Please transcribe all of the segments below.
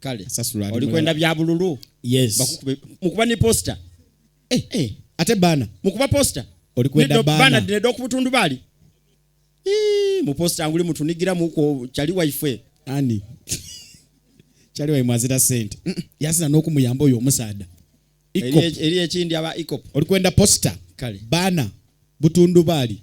kale oli kwenda bya bululu yes bakukube mukuba ni poster eh eh ate bana mukuba poster oli kwenda bana bana dine doku butundu bali eh mu poster anguli mtu nigira muko chali wife ani chali wife mwazira sent mm, yasina noku muyambo oyo musada iko eri ekindi aba iko oli kwenda poster kale bana butundu bali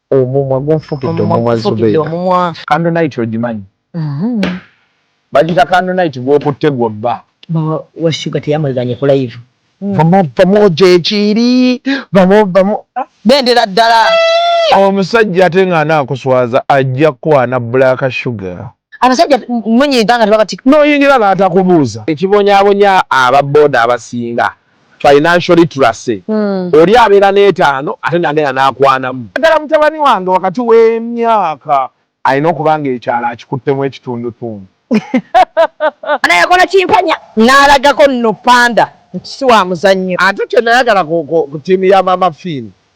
Omumwa gunfukidde omumwa Zubeeda. Candle night ogimanyi? Bagiyita candle night gw'okutte gw'obba. Maama wa Shuga teyamwegaanye ku live. Vamo vamo gyekiri vamo vamo. Bendera ddala. Omusajja ate nga anaakuswaza ajja kukwana black sugar. Abasajja munya eganga tebabatika. Noyingira natakubuuza. Ekibonyabonya aba boda abasinga financial literacy oli abeera netaano ate nagenda nakwanamu. Naddala mutabani wange wakati wemyaka alina okuba nga ekyalo akikuttemu ekitundutundu. Ana yakola kimpanya nalagako no panda nti siwamuzannyo. Ate kyenayagala ku team ya maama Finn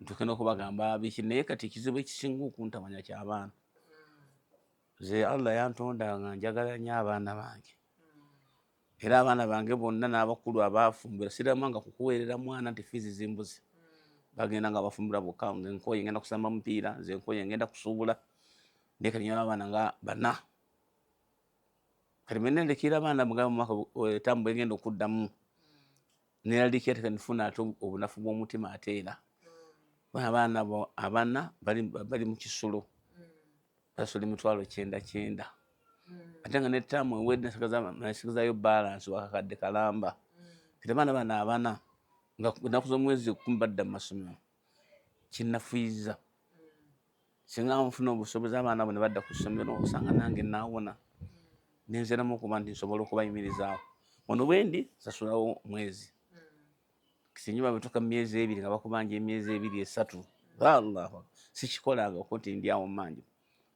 ntuke nokubagamba biki naye kati ekizibu ekisinga okuntamanya kyabaana ze allah yantonda nga njagala nyo abaana bange era abaana bange bonna n'abakulu abaafumbira sirama nga kukuweerera mwana nti fiizi zimbuzi bagenda nga bafumbira bokka nze nkoye ngenda kusamba mupiira nze nkoye ngenda kusuubula naye kati nyala abaana nga bana kati menendekera abaana mugamba mwaka etambula eh, egenda okuddamu neraliika ate kanifuna ate obunafu bw'omutima ate era abaana bo abana bali mu kisulo basula emitwalo kyenda kyenda ate nga netaamu ewedde nasigazayo balansi wakakadde kalamba kati abaana bano abana nga naku z'omwezi kumi badda mu masomero kinafuyiza singa nfuna obusobozi abaana abo ne badda ku ssomero osanga nange naawona nenziramu okuba nti nsobola okubayimirizaawo ono bwendi sasulawo mwezi singa babituka mu myezi ebiri nga bakubanja emyezi ebiri esatu allahu sikikolanga okuti ndi awo mmanju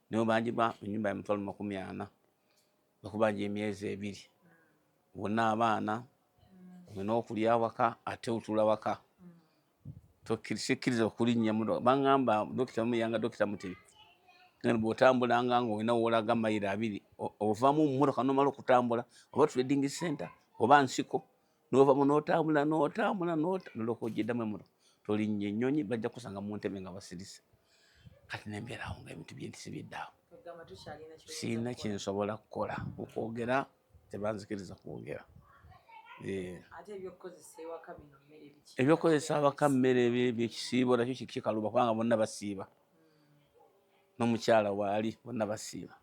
naye obanjibwa enyumba ya mutwalo makumi ana bakubanja emyezi ebiri wonna abaana olina okulya waka ate otula waka tokkiriza okulinnya muno baŋŋamba dokita mumuyanga dokita mutebi ngani bw'otambulanga ng'olina woolaga mayiro abiri ovamu mummotoka nomala okutambula oba trading center oba nsiko novamu n'otambula n'otambula noloka ogyeddamu emuno tolinnya ennyonyi bajja kusanga mu ntebe nga basirise kati nembeerawo nga ebintu byentisi byeddaawo sirina kyensobola kukola okwogera tebanzikiriza kwogera eh. ebyokukozesa awaka mmere byekisiibo nakyo kikaluba kubanga bonna basiiba hmm. nomukyala waali bonna basiiba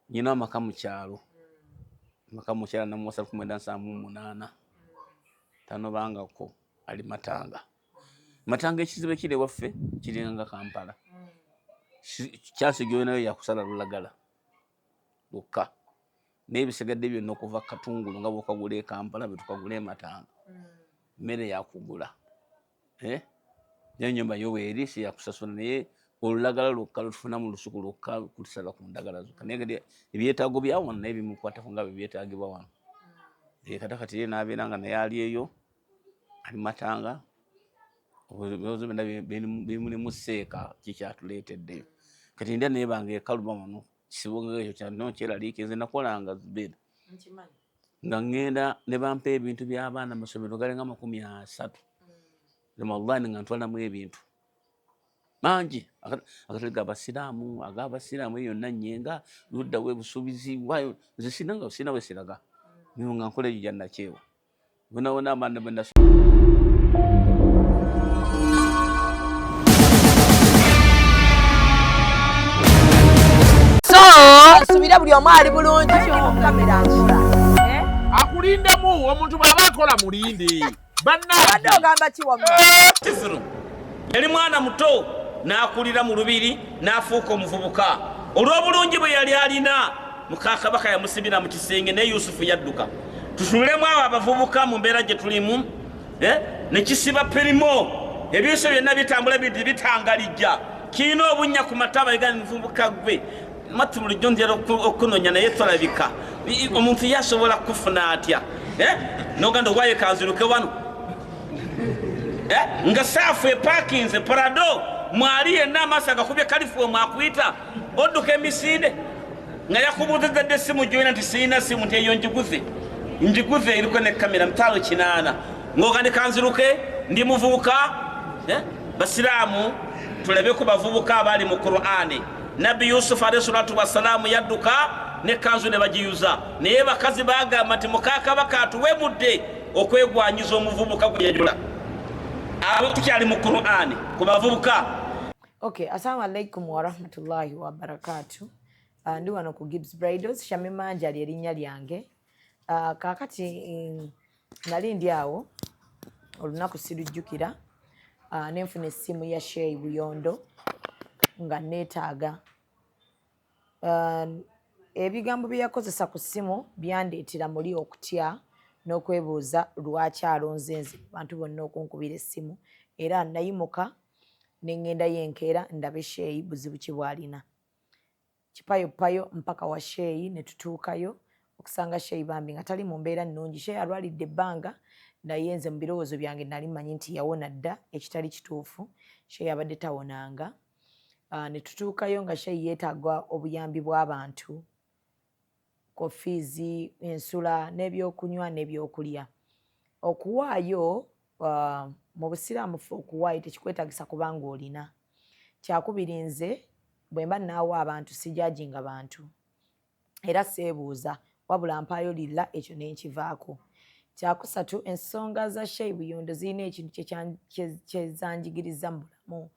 nyina amaka mukyalo hmm. amaka mukyala namuwasa kumwenda nsaamu munaana hmm. tanobangako ali matanga matanga ekizibu ekiri ewaffe kiringa kampala kyansi gyonayo yakusala lulagala lwokka naye bisigadde byonna okuva katungulu nga bwokagula ekampala bwetukagula ematanga mmere yakugula eh? naye nyumba yo weeri siyakusasula naye olulagala lwokka lutufuna mu lusuku lwokka kutusala ku ndagala zokka naye kati ebyetaago byawano naye bimukwatako nga byebyetaagibwa wano eh, kata kati ye nabeera nga naye ali eyo abimatanga ebibuzo byona bimulimu seeka kikyatuletedde kati ndya nebanga ekaluma muno kyeraliikiriza nze nakolanga zubeda nga ngenda nebampa ebintu byabaana masomero galinga amakumi asatu ramadan nga ntwalamu ebintu mangi agatali gabasiraamu agabasiraamu eyo yonna nyenga luddawo ebusuubizi wayo nze sirina nga sirina wesiraga nga nkola egyo gyanakyewa Una-una man naman na asubire buli omu ali bulungi kamera akola eh? akulindemu omuntu bwaba akola mulinde bannabadde ogamba kiwamkisiru eh, yali mwana muto n'akulira mu lubiri n'afuuka omuvubuka olw'obulungi bwe yali alina muka kabaka yamusibira mu kisenge ne yusufu yadduka tutunulemu abo abavubuka mu mbeera gye tulimu eh, ne kisiba pirimo ebinso byonna bitambula bidi bitangalijja kirina obunnya ku mataba egani muvubuka gwe matu bulijjo ntera okunonya naye tolabika omuntu yasobola kufuna atya eh, noganda owaye kanziruke wano eh, nga saafu epakinze parado mwali yenna amaaso agakubye kalifuwe mwakuyita odduka emisinde nga yakubuuziza dde essimu gyoyina nti sirina simu nti eyo njiguze njiguze eriko ne kamera mitalo kinaana ngoga ne kanziruke ndi muvubuka eh? basiraamu tulabe ku bavubuka abaali mu qur'ani nabbi yusufu alehi salatu wassalamu yadduka ne kanzu ne bagiyuza naye bakazi bagamba nti mukakabaka atuwemudde okwegwanyiza omuvubuka gwe yajula abo tukyali mu qur'ani ku bavubuka Okay, assalamu alaikum warahmatullahi wabarakatu. Uh, ndi wano ku Gibbs Bridals, Shamima Njali erinnya lyange. Uh, kaakati um, nali ndi awo olunaku sirujjukira uh, ne nfuna essimu ya Sheyi Buyondo nga neetaaga uh, ebigambo bye yakozesa ku ssimu byandeetera muli okutya n'okwebuuza lwaki alonze nze bantu bonna okunkubira essimu era nayimuka ne ŋŋendayo enkeera ndabe Sheyi buzibu ki bw'alina. Kipayoppayo mpaka wa Sheyi ne tutuukayo okusanga Sheyi bambi nga tali mu mbeera nnungi. Sheyi alwalidde ebbanga naye nze mu birowoozo byange nnali mmanyi nti yawona dda ekitali kituufu. Sheyi abadde tawonanga. Ne tutuukayo nga Sheyi yeetaaga obuyambi bw'abantu. ko fiizi ensula n'ebyokunywa n'ebyokulya okuwaayo uh, mu busiraamu fe okuwaayo tekikwetagisa kubanga olina kyakubiri nze bwe mba naawa abantu sijajinga bantu era seebuuza wabula mpaayo lilla ekyo nenkivaako kyakusatu ensonga za shei buyondo zirina ekintu kyezanjigiriza mubula mu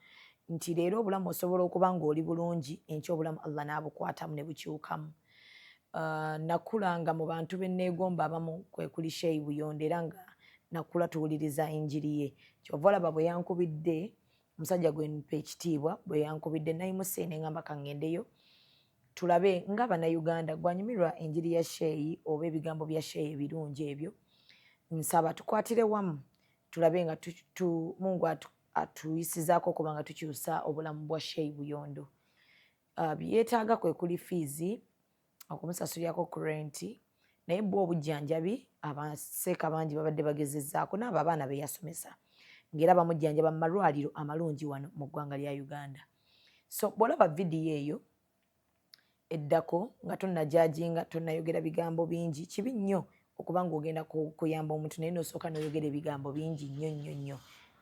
nti leero obulamu osobola okuba ng'oli bulungi enkya obulamu allah n'abukwatamu ne bukyukamu uh, nakulanga mu bantu be nneegomba abamu kwe kuli sheyi buyonde era nga nakula tuwuliriza enjiri ye kyova olaba bwe yankubidde omusajja gwe mpa ekitiibwa bwe yankubidde nayimusa ene ngamba kangendeyo tulabe nga bannayuganda gwanyumirwa enjiri ya sheyi oba ebigambo bya sheyi ebirungi ebyo nsaba tukwatire wamu tulabe nga mungu atuyisizaako okuba nga tukyusa obulamu bwa shei buyondo uh, byetaaga kwe kuli fiizi okumusasulirako ku renti naye bwa obujjanjabi abaseeka bangi babadde bagezezaako naabo abaana be yasomesa ngaera bamujjanjaba mu malwaliro amalungi wano mu ggwanga lya uganda so bwolaba vidiyo eyo eddako nga tonajajinga tonayogera bigambo bingi kibi nnyo okuba ngaogenda kuyamba omuntu naye nosooka noyogera ebigambo bingi nnyo nnyo nnyo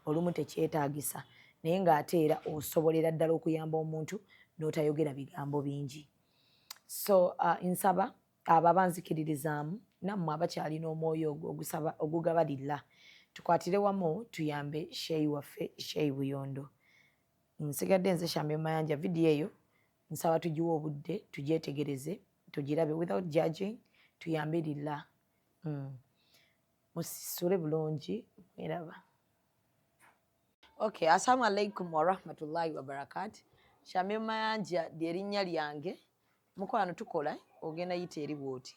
olumu tekyetagisa naye ngaate era osobolera ddala okuyamba omuntu notayogera bigambo bingi so uh, nsaba abo abanzikiririzaamu nammwe abakyalina omwoyo ogwo ogusaba ogugabalilla tukwatire wamu tuyambe sheyi waffe sheyi buyondo nsigadde nze shambe mayanja video eyo nsaba tugiwe obudde tugyetegereze tugirabe without judging tuyambe lilla mm. musisule bulungi mweraba okay assalamu alaikum warahmatullahi wabarakat shambe mayanja lyerinnya lyange mukwano tukola ogenda yita eri bwoti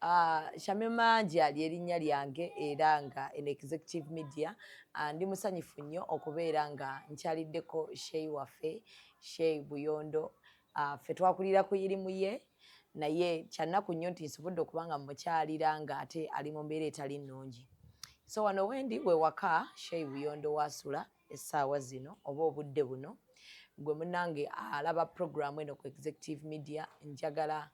Uh, Shamima Njia ly'erinnya lyange era nga en executive media uh, ndi musanyufu nnyo okubeera nga nkyaliddeko Shei waffe Shei Buyondo uh, ffe twakulira ku yirimu ye naye kyannaku nnyo nti nsobodde okuba nga mukyalira nga ate ali mu mbeera etali nnungi so wano wendi we waka Shei Buyondo waasula essaawa zino oba obudde buno gwe munange alaba programu eno ku executive media njagala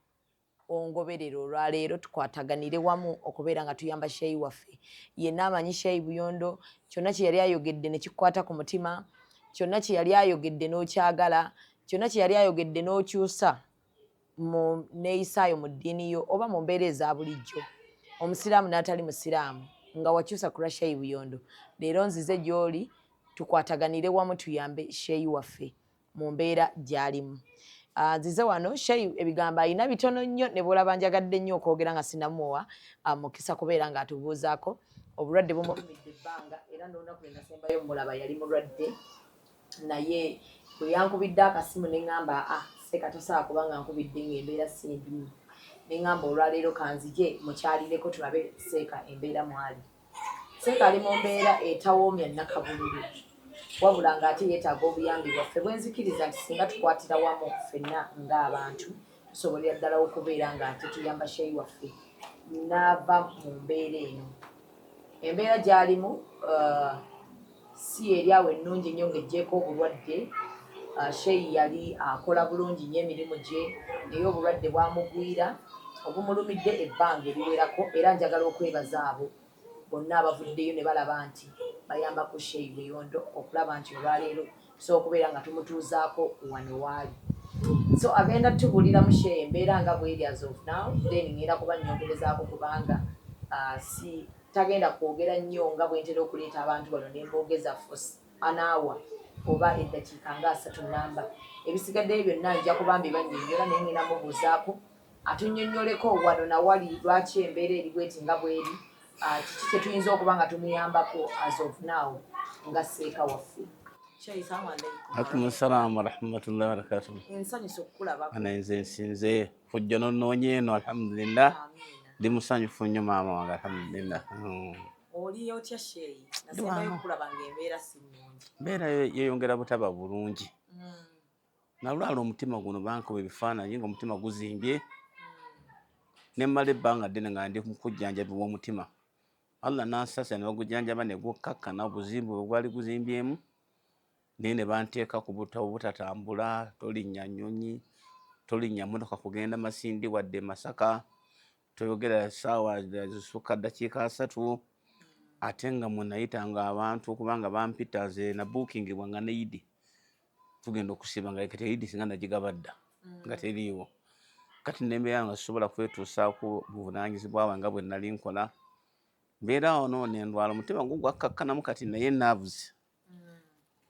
ongoberere olwaleero tukwataganire wamu okubeera nga tuyamba sheyi waffe yenna amanyi sheyi buyondo kyonna kye yali ayogedde ne kikukwata ku mutima kyonna kye yali ayogedde n'okyagala kyonna kye yali ayogedde n'okyusa mu neeyisaayo mu ddiini yo oba mu mbeera eza bulijjo omusiraamu n'atali musiraamu nga wakyusa ku lwa sheyi buyondo leero nzize gy'oli tukwataganire wamu tuyambe sheyi waffe mu mbeera gyalimu ah, nzize uh, wano shei ebigambo alina bitono nnyo ne bwolaba njagadde nnyo okwogera nga sinamuwa uh, ah, mukisa kubeera nga atubuuzaako obulwadde bumulumidde ebbanga era nolunaku lwenasembayo mulaba yali mulwadde naye bwe yankubidde akasimu ne ŋamba a ah, seeka tosobola kuba nga nkubidde ng'embeera si mbimu ne ŋamba olwaleero kanzije mukyalireko tulabe seeka embeera mwali Seeka ali mu mbeera etawoomya nnakabululu wabula ng'ate yeetaaga obuyambi bwaffe bwenzikiriza nti singa tukwatira wamu ffenna ng'abantu tusobolera ddala okubeera ng'ate tuyamba Sheyi waffe n'ava mu mbeera eno. Embeera gy'alimu uh, si yeryawo ennungi nnyo ng'ejjeeko obulwadde uh, sheyi yali akola bulungi nnyo emirimu gye naye obulwadde bwamugwira obumulumidde ebbanga eriwerako era njagala okwebaza abo bonna abavuddeyo ne balaba nti bayambako sheyi weyondo okulaba nti olwaleero tusobola okubeera nga tumutuuzaako wano waali so agenda tubulira mushe embeera nga bweri as of now then ngenda kuba nyongerezaako kubanga uh, si tagenda kwogera nnyo nga bwentera okuleeta abantu bano nemboogeza fos anaawa oba eddakiika nga asatu namba ebisigaddeyo byonna nja kuba mbibanyonyola naye ngenda mubuuzaako Atunnyonnyoleko wano na wali lwaki embeera eri bweti nga bw'eri, kiki kye tuyinza okuba nga tumuyambako as of now nga seeka waffe. Akumusalamu warahmatullahi wabarakatuh. Nsanyuse okukulabako. Ana nze nsinze kujja n'onnoonya eno alhamdulillah. Ndi musanyufu nnyo maama wange alhamdulillah. Hmm. Oli otya sheeyi? Nasembayo okulaba ng'embeera si nnungi. Embeera yeeyongera butaba bulungi. nalwala omutima guno bankuba ebifaananyi ngaomutima guzimbye nemmala ebbanga ddene nga ndi mukujjanjabi bwomutima allah nansasa nebagujjanjaba negukkakkana obuzimbu bwe gwali guzimbyemu naye ne banteeka ku butabo butatambula tolinnya nnyonyi tolinnya motoka kugenda masindi wadde masaka toyogera saawa zisukka ddakiika asatu ate nga mwenayita nga abantu okubanga bampita nze nabuukingibwa nga neidi tugenda okusiba nga kati eidi singa nagigaba dda mm. nga teriiwo kati nembeera nga sisobola kwetuusaako buvunanyizibwa bwe nga bwe nali nkola mbeera ono nendwala omutima gwo gwakkakkanamu kati naye navuzi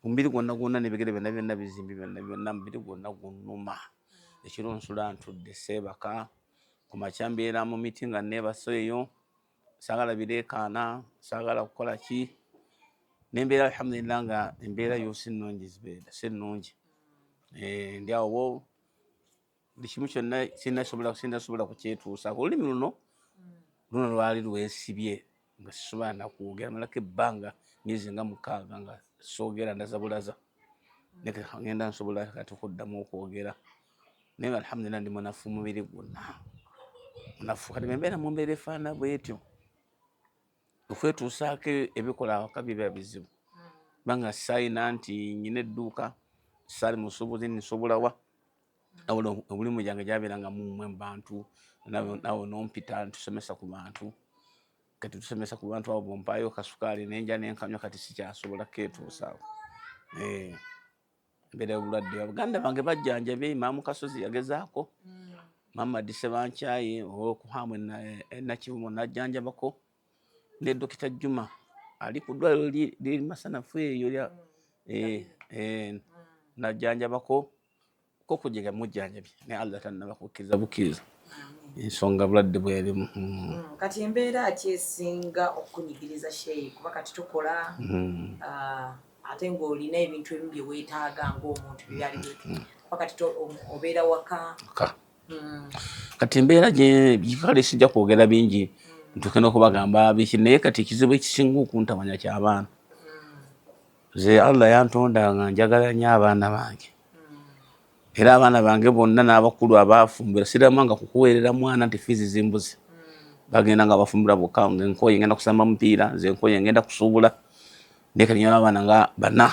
omubiri gwonna gwonna nebigere byonna byonna bizimbi byonna byonna mubiri gwonna gunuma ekiro nsula ntudde seebaka ku makya mbeera mu miti nga neebaso eyo saagala bireekaana saagala kukola ki nembeera alhamdulillah nga embeera yo si nnungi zibeera si nnungi eh, ndi awo buli kimu kyonna sinasobola kukyetuusaako olulimi luno luno lwali lwesibye nga sisobola nakwogera malako ebbanga myezi nga mukaaga nga soogera ndazabulaza ngenda nsobola kati okuddamu okwogera naye nga alhamdulillah ndi munafu mubiri gwonna munafu kati bembeera mumbeera efaana bwetyo okwetuusaako ebikola awaka biba bizibu banga sayina nti nyina edduuka sali musubuzi nsobolawa awula obulimu gyange gyabeera nga mumwe mubantu nawe nompita ntusomesa ku bantu kati tusomesa ku bantu abo bompaayo kasukaali nenja nenkanywa kati sikyasobola ketuusaako eh. Mbere obulwadde abaganda bange bajjanjabye imaamu kasozi yagezaako mm. maama dise bankyaye okuhaamu enakivumo e, e, najjanjabako ne dokita juma ali ku ddwaliro liri masanafu eyo lya mm. eh, najjanjabako ko kujega mujjanjabye naye allah tannaba kukkiriza bukkiriza ensonga bulwadde bwerimu mm. mm, kati embeera ki esinga okukunyigiriza sheyi kuba kati tukola mm. ah, ate ng'olina ebintu ebimu bye weetaaga ng'omuntu bye byali hmm. kuba kati obeera waka hmm. kati embeera gyekale sijja kwogera bingi hmm. ntuuke n'okubagamba biki naye kati ekizibu ekisinga okuntamanya ky'abaana ze allah yantonda nga njagala nyo abaana bange era abaana bange bonna n'abakulu abaafumbira siramanga kukuweerera mwana nti fiizi zimbuzi bagenda nga bafumbira bokka nga enkooye ngenda kusamba mupiira nze enkooye ngenda kusuubula naye kati nyala abaana nga bana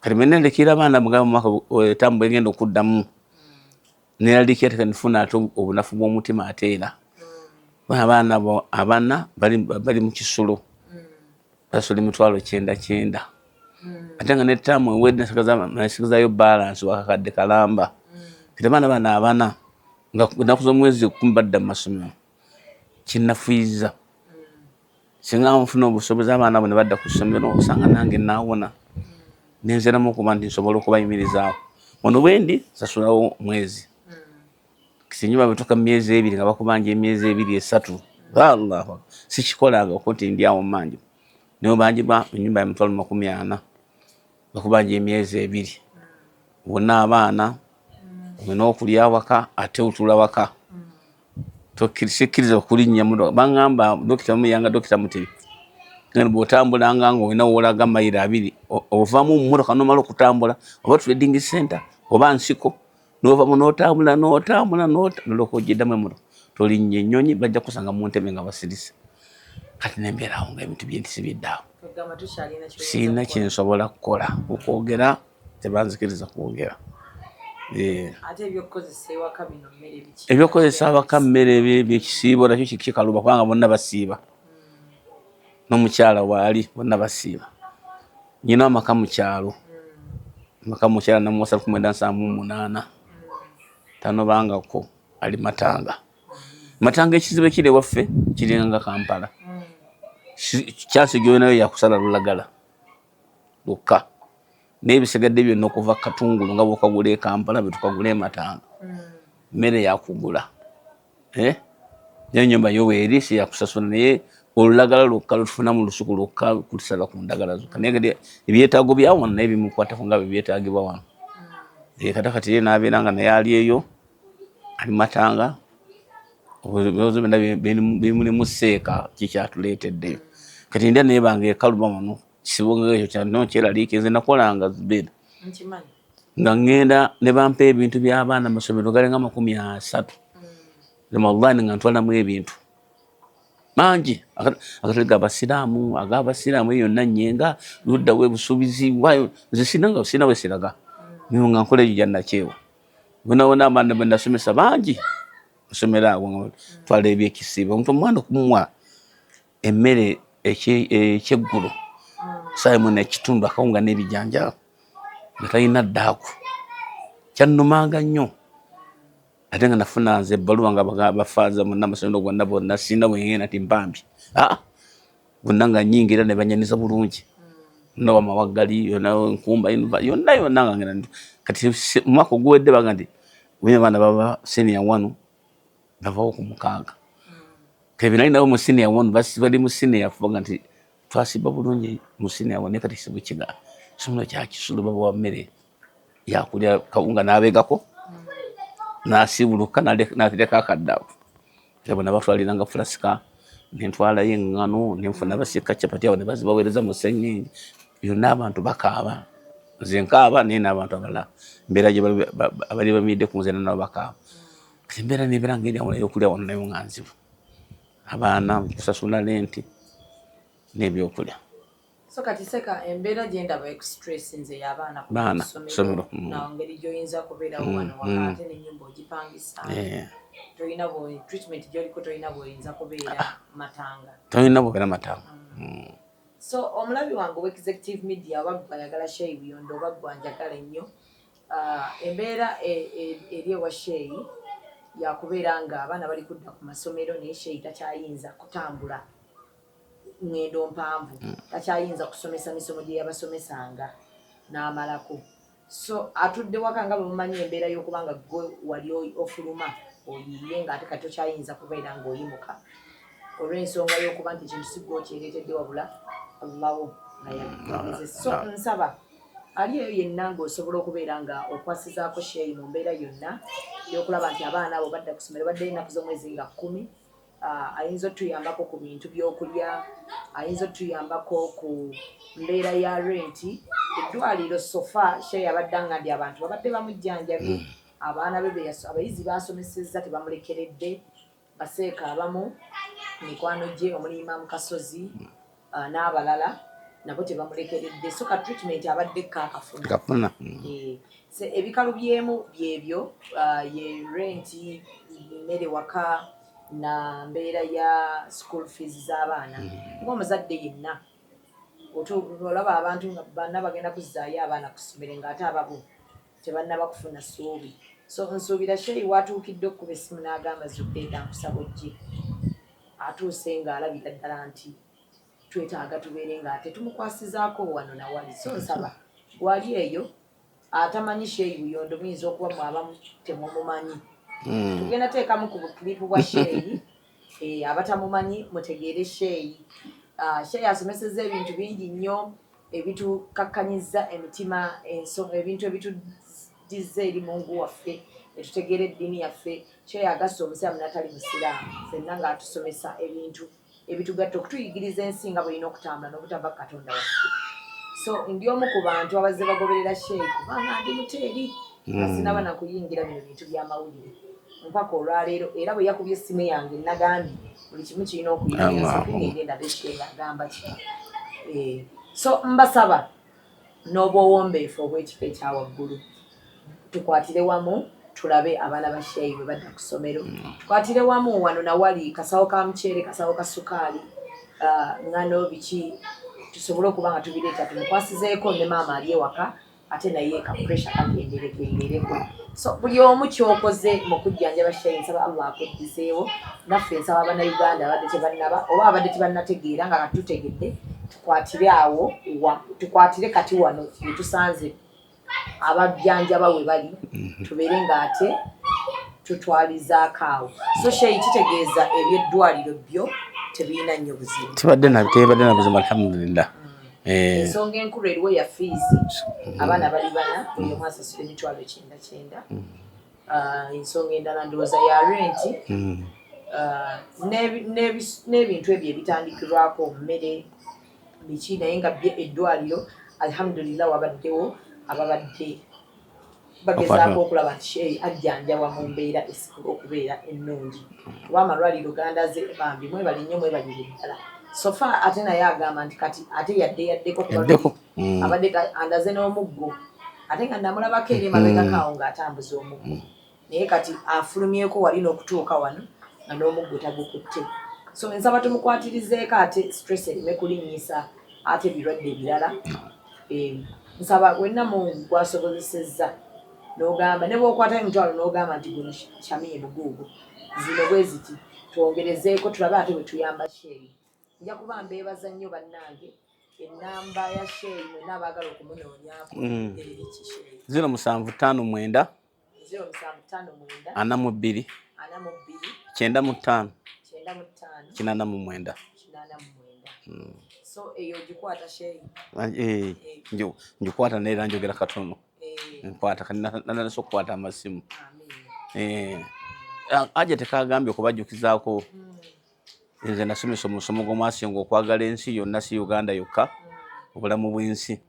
kati menendekera abaana mugaba mumwaka etambula egenda okuddamu neraliikira ate kanifuna ate obunafu bw'omutima ate era abaana abana bali mu kisulo basula emitwalo kyenda kyenda ate nga netaamu ewedde nasigazayo balansi wakakadde kalamba kati abaana bano abana nga nakuza omwezi kumi badda mu masomero kinnafuyizza singa nfuna obusobozi abaana abo ne badda ku ssomero osanga nange naawona ne nziramu okuba nti nsobola okubayimirizaawo ono bwendi sasulawo mwezi kisinyi babituka mu myezi ebiri nga bakubanja emyezi ebiri esatu allah sikikolanga okuti ndi awo manje naye banjibwa enyumba ya mitwalo makumi ana bakubanja emyezi ebiri wonna abaana olina okulya waka ate otula waka tokkiriza okulinnya muno baŋŋamba dokita muyanga dokita mutebi ngani bw'otambulanga nga olina woolaga mayiro abiri ovamu mummotoka nomala okutambula oba trading center oba nsiko novamu notambula notambula noloka ojiddamu emuno tolinnya ennyonyi bajja kusanga mu ntebe nga basirise kati nembeerawo nga ebintu byentisi biddaawo sirina kyensobola kukola okwogera tebanzikiriza kwogera eh. ebyokukozesa awaka mmere byekisiibo nakyo kikaluba kubanga bonna basiiba hmm. nomukyala waali bonna basiiba nyina amaka mukyalo hmm. amaka mukyala namuwasa kumwenda nsaamu munaana hmm. tanobangako ali matanga matanga ekizibu ekiri ewaffe kiringa kampala kyansi gyonayo yakusala lulagala lwokka naye ebisigadde byonna okuva katungulu nga bwokagula ekampala bwetukagula ematanga mmere hmm. yakugula eh? naye nyumba yo weeri siyakusasula naye olulagala lwokka lwetufuna mu lusuku lwokka kutusala ku ndagala zokka naye kati ebyetaago byawano naye bimukwatako nga byebyetaagibwa wano hmm. eh, kata kati ye nabeera nga naye ali eyo abimatanga ebibazo byonna bimulimu seeka kikyatuleetedde kati ndya naye bange ekaluma wano kisibuka ekyo kyano kyeraliike nze nakolanga zubeda nga ŋŋenda ne bampa ebintu by'abaana amasomero galinga amakumi asatu ramadhan nga ntwalamu ebintu mangi agatali ga basiraamu aga basiraamu eyo yonna nyenga luddawo ebusuubizi wayo nze sirina nga sirina wesiraga nga nkola egyo gyanakyewa Bonabona abaana be nasomesa bangi nsomera awo nga twala ebyekisiibo omuntu omwana okumuwa emmere ekyeggulo saayimu nekitundu akawunga n'ebijanja nga talina ddaaku kyannumanga nnyo ate nga nafuna nze ebbaluwa nga bafaanza munnamasomero gonna bonna sirina bwengenda nti mpambye aa ah, gonna nga nyingira ne banyaniza bulungi no wamawaggali yona nkumba yonna yonna nga ngenda kati omwaka oguwedde baga nti wina abaana baba senior wanu bavawo ku mukaaga kati binali nabo mu senior wanu bali mu senior fubaga nti twasiba bulungi mu senior wanu kati sibukiga somuno kyakisulu babawa mmere yakulya kawunga nabegako nasibuluka natereka akaddavu abo nabatwaliranga fulasika nentwalayo eŋŋano nenfuna basika capati abo nebazibaweereza mu sseŋŋenge yonna abantu bakaaba nze nkaaba naye n'abantu abalala embeera abali bamiidde ku nze nanabo bakaaba kati embeera nebeera nga eryawo nayokulya wano nayo nga nzibu abaana kusasula lenti n'ebyokulya so kati seka embeera gye ndaba ekusitressnze y'abaana ku ssomero mm. na ngeri gy'oyinza kubeerawo mm, wano waka mm. ate n'ennyumba ogipangisa tolina treatment gy'oliko tolina bw'oyinza kubeera ah, ah. matanga tolina bw'obeera matanga so omulabi wange owa executive media oba gwe ayagala sheyi buyondo oba gwe anjagala ennyo ah, embeera e, e, eri ewa sheyi yakubeera ng'abaana bali kudda ku masomero naye sheyi takyayinza kutambula ku ŋŋendo mpanvu mm. takyayinza kusomesa misomo gye yabasomesanga n'amalako so atudde waka nga bwemumanyi embeera y'okuba nga gwe wali ofuluma oyiye ng'ate kati tokyayinza kubeera ng'oyimuka olw'ensonga y'okuba nti ekintu sigwa okyereetedde wabula allawo nayaeze so nsaba ali eyo yenna ng'osobola okubeera nga okwasizaako sheeyi mu mbeera yonna y'okulaba nti abaana abo badda ku ssomero baddeyo ennaku z'omwezi nga kkumi uh, ayinza otuyambako ku bintu byokulya ayinza otuyambako ku mbeera ya renti eddwaliro sofa she yabadde nga ndi abantu babadde bamujjanjabi mm. abaana be abayizi basomesezza tebamulekeredde baseeka abamu mikwano gye omuliima mukasozi uh, n'abalala nabo tebamulekeredde so ka treatment abadde kakafuna kafuna eh, so ebikalu byemu byebyo uh, ye renti mmere waka na mbeera ya school fees z'abaana mm. kuba omuzadde yenna olaba abantu nga bana bagenda kuzzaayo abaana ku ssomero ng'ate ababo tebannaba kufuna ssuubi so nsuubira sheyi watuukidde okukuba essimu n'agamba zubeeda nkusaba ojje atuuse ng'alabira ddala nti twetaaga tubeere nga ate tumukwasizaako wano nawali so nsaba wali eyo atamanyi sheyi buyondo muyinza okuba mwabamu temumumanyi hmm. tugenda teekamu ku buklipu bwa sheyi Eh, abatamumanyi mutegeere sheeyi ah, sheeyi asomeseza ebintu bingi nnyo ebitukakkanyiza emitima ebintu ebitudizza eri mungu waffe etutegeera eddiini yaffe sheeyi agasa omusiraamu natali musiraamu fenna ngaatusomesa ebintu ebitugatta okutuyigiriza ensi nga bwerina okutambula nobutava ku katonda waffe so ndi omu ku bantu abazze bagoberera sheeyi kubanga ndi muteeri asinaba hmm. nakuyingira bino bintu byamawulire mpaka olwaleero era bwe yakubye essimu yange nagambye buli kimu kirina okuyinagamba ki eh, so mbasaba n'obwowombeefu obw'ekifo ekya waggulu tukwatire wamu tulabe abaana ba sheyi bwe badda ku ssomero mm. tukwatire wamu wano nawali kasawo ka muceere kasawo ka sukaali ah, ngano biki tusobole okuba nga tubireeta tumukwasizeeko ne maama ali ewaka ate naye ka pressure kakenderekendereko so buli omu kyokoze mu kujjanjaba shayi nsaba allah akuddizeewo naffe nsaba bannayuganda abadde tebannaba oba abadde tebannategeera nga katutegedde tukwatire awo tukwatire kati wano wetusanze abajjanjaba we bali mhm. tubeere ng'ate tutwalizaako awo so shayi kitegeeza ebyeddwaliro byo tebirina nnyo buzibu tibadde nabitebadde nabuzibu alhamdulillah Eh. ensonga enkulu eriwo ya fiizi mm. abaana bali bana buli omu asasula emitwalo ekyenda kyenda mm. ah, ensonga endala ndowooza ya renti mm. ah, n'ebintu ebyo ebitandikirwako mmere biki naye nga bye eddwaliro alhamdulillah wabaddewo ababadde bagezaako okulaba nti sheeyi ajjanjabwa mu mbeera esikula okubeera ennungi kuba amalwaliro gandaze bambi mwebali nnyo mwebalire ddala sofa ate naye agamba nti kati ate yadde yaddeko kubaddeko mm. abadde andaze n'omuggo ate nga namulabako eri emabegakaawo mm. ng'atambuza omuggo mm. naye kati afulumyeko wali n'okutuuka wano nga n'omuggo tagukutte so nsaba tumukwatirizeeko ate stress ereme kulinnyisa ate ebirwadde ebirala Eh, nsaba wenna mu gwasobozesezza nogamba ne bwokwata emitwalo nogamba nti guno shamiye buguugu zino bwe ziti twongerezeeko tulabe ate bwe tuyamba sheeyi nja kuba mbeebaza nnyo bannange enamba ya sheeyi mwena abaagala okumunoonyaako mm. eriki sheeyi zino musanvu ttaano mwenda ana mu bbiri kyenda mu ttaano kinaana mu mwenda hmm. ah, eh, ngikwata naye era njogera katono eh. nkwata kananasa okukwata amasimu eh, ah, aja tekagambye okubajjukizaako hmm. nze nasomesa omusomo gw'omwasinga okwagala ensi yonna si uganda yokka hmm. obulamu bw'ensi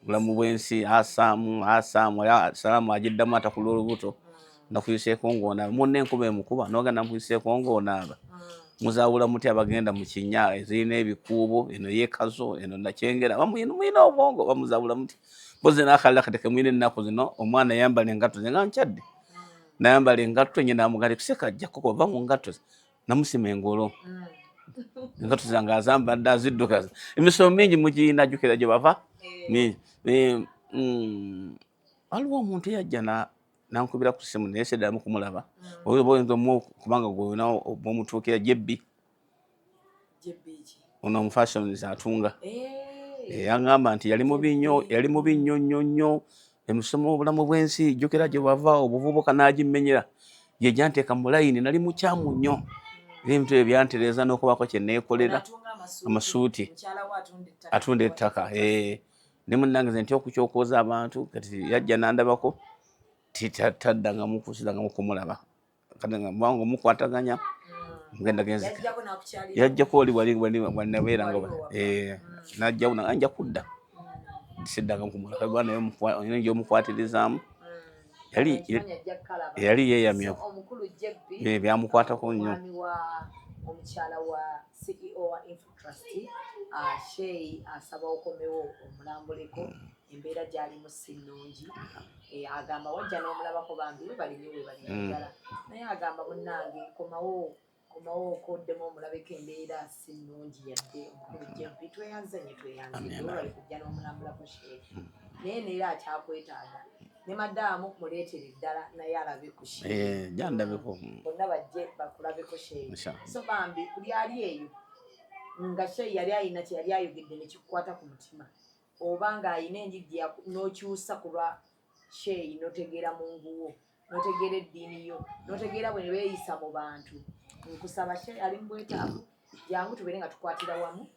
bulamu bwensi asaamu asaamu era salaamu agiddamu atakula olubuto nakuyiseeko ng'onaaba munna enkuba emukuba nogenda mukuyiseeko ng'onaaba muzawula muti abagenda mu kinya ezirina ebikuubo eno yekazo eno nakyengera mulina obwongo bamuzawula muti mpozi nakalala kati kemulina ennaku zino omwana yambala engatto ze nga nkyadde nayambala engatto nye namugali kuseka ajja kukuba va mu ngatto ze namusima engolo mm. engato zange azambadde aziddukaza emisomo mingi mugirina jukira gye bava eh. mingi eh, mm, waliwo omuntu eyajja nankubira ku simu naye seddamu kumulaba mm. oba oyinza omu kubanga gweonaomutuukira jebbi ono omufashions atunga yangamba nti yali mubi nnyo yali mubi nnyo nnyo nnyo emusoma obulamu bw'ensi jjukira gye wava obuvubuka n'agimmenyera ye gyanteeka mu layini nali mukyamu nnyo ebintu ebyo byantereeza n'okubaako kye neekolera amasuuti atunda ettaka ne munnange ze ntya okukyokooza abantu kati yajja n'andabako taddangamu kusidangamu kumulaba kati nga mwange omukwataganya ngenda genzi yajjako oli wali wanabeera nga eh, najjawo nanga nja kudda siddanga kumulaka kuba naye olina gyomukwatirizaamu yali yali yeeyamya byamukwatako nnyo trustee uh, shey asaba uh, okomewo omulambuleko embeera gyalimu si nnungi eh, agamba wajja n'omulabako bambi webalinyo webalinagala mm. naye agamba munnange komawo komawo okoddemu omulabeko embeera si nnungi yadde omukulu jempi tweyanze nye tweyanze olwali kujja n'omulambulako shey mm. naye neera akyakwetaaga ne madaamu muleetere ddala naye alabe ku eh, jandabeko hmm. bonna bajje bakulabeko sheeyi so bambi buli ali eyo nga sheeyi yali alina kye yali ayogedde ne kikukwata ku mutima oba ng'alina enjigi n'okyusa ku lwa sheeyi n'otegeera mu nguwo n'otegeera eddiini yo n'otegeera bwe ne beeyisa mu bantu nkusaba sheeyi ali mu bwetaavu jangu tubeere nga tukwatira wamu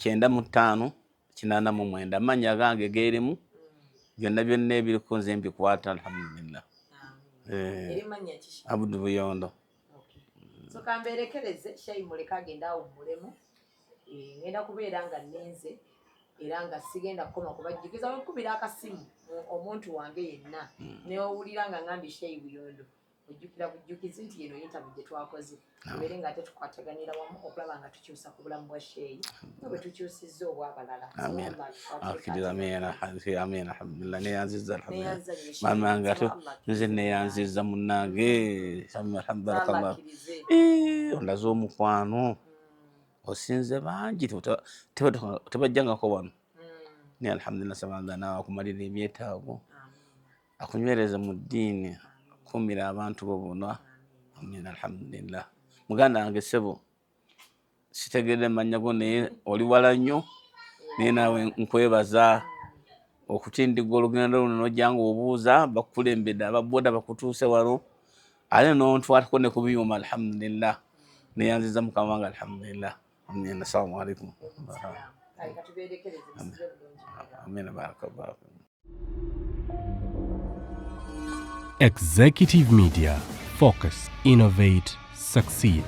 kyenda mu ttaano kinaana mu mwenda amannya agange geerimu byonna byonna ebiriku nze mbikwata alhamdulillah eh, abudu buyondo sokamberekereze shayi muleka agenda awo mulemu eh, ngenda kubeera nga ninze era nga sigenda kukoma kubajjukiza wekubira akasimu omuntu wange yenna hmm. newowulira nga ngambi shayi buyondo ojjukira bujjukizi nti yeno yintabu gye twakoze tubeere nga ate tukwataganira wamu okulaba nga tukyusa ku bulamu bwa sheeyi nga bwe tukyusizza obwabalala mama nga nze neyanziza munange alhamdulillah eh, olaze omukwano hmm. osinze bangi tebajjangako wano hmm. naye alhamdulillah sabanga nawakumalira ebyetaago akunywereze mu ddiini kuumira abantu bo bona amin alhamdulillah muganda wange sebo sitegedde mannya go naye oli wala nnyo naye naawe nkwebaza okutindigga olugendo luno nojjanga obuuza bakukulembedde ababoda bakutuuse wano ate nontwalako ne ku byuma alhamdulillah neyanziza mukama wange alhamdulillah Amin. Assalamu alaikum. Amin. Barakallahu. Executive Media Focus, Innovate, Succeed.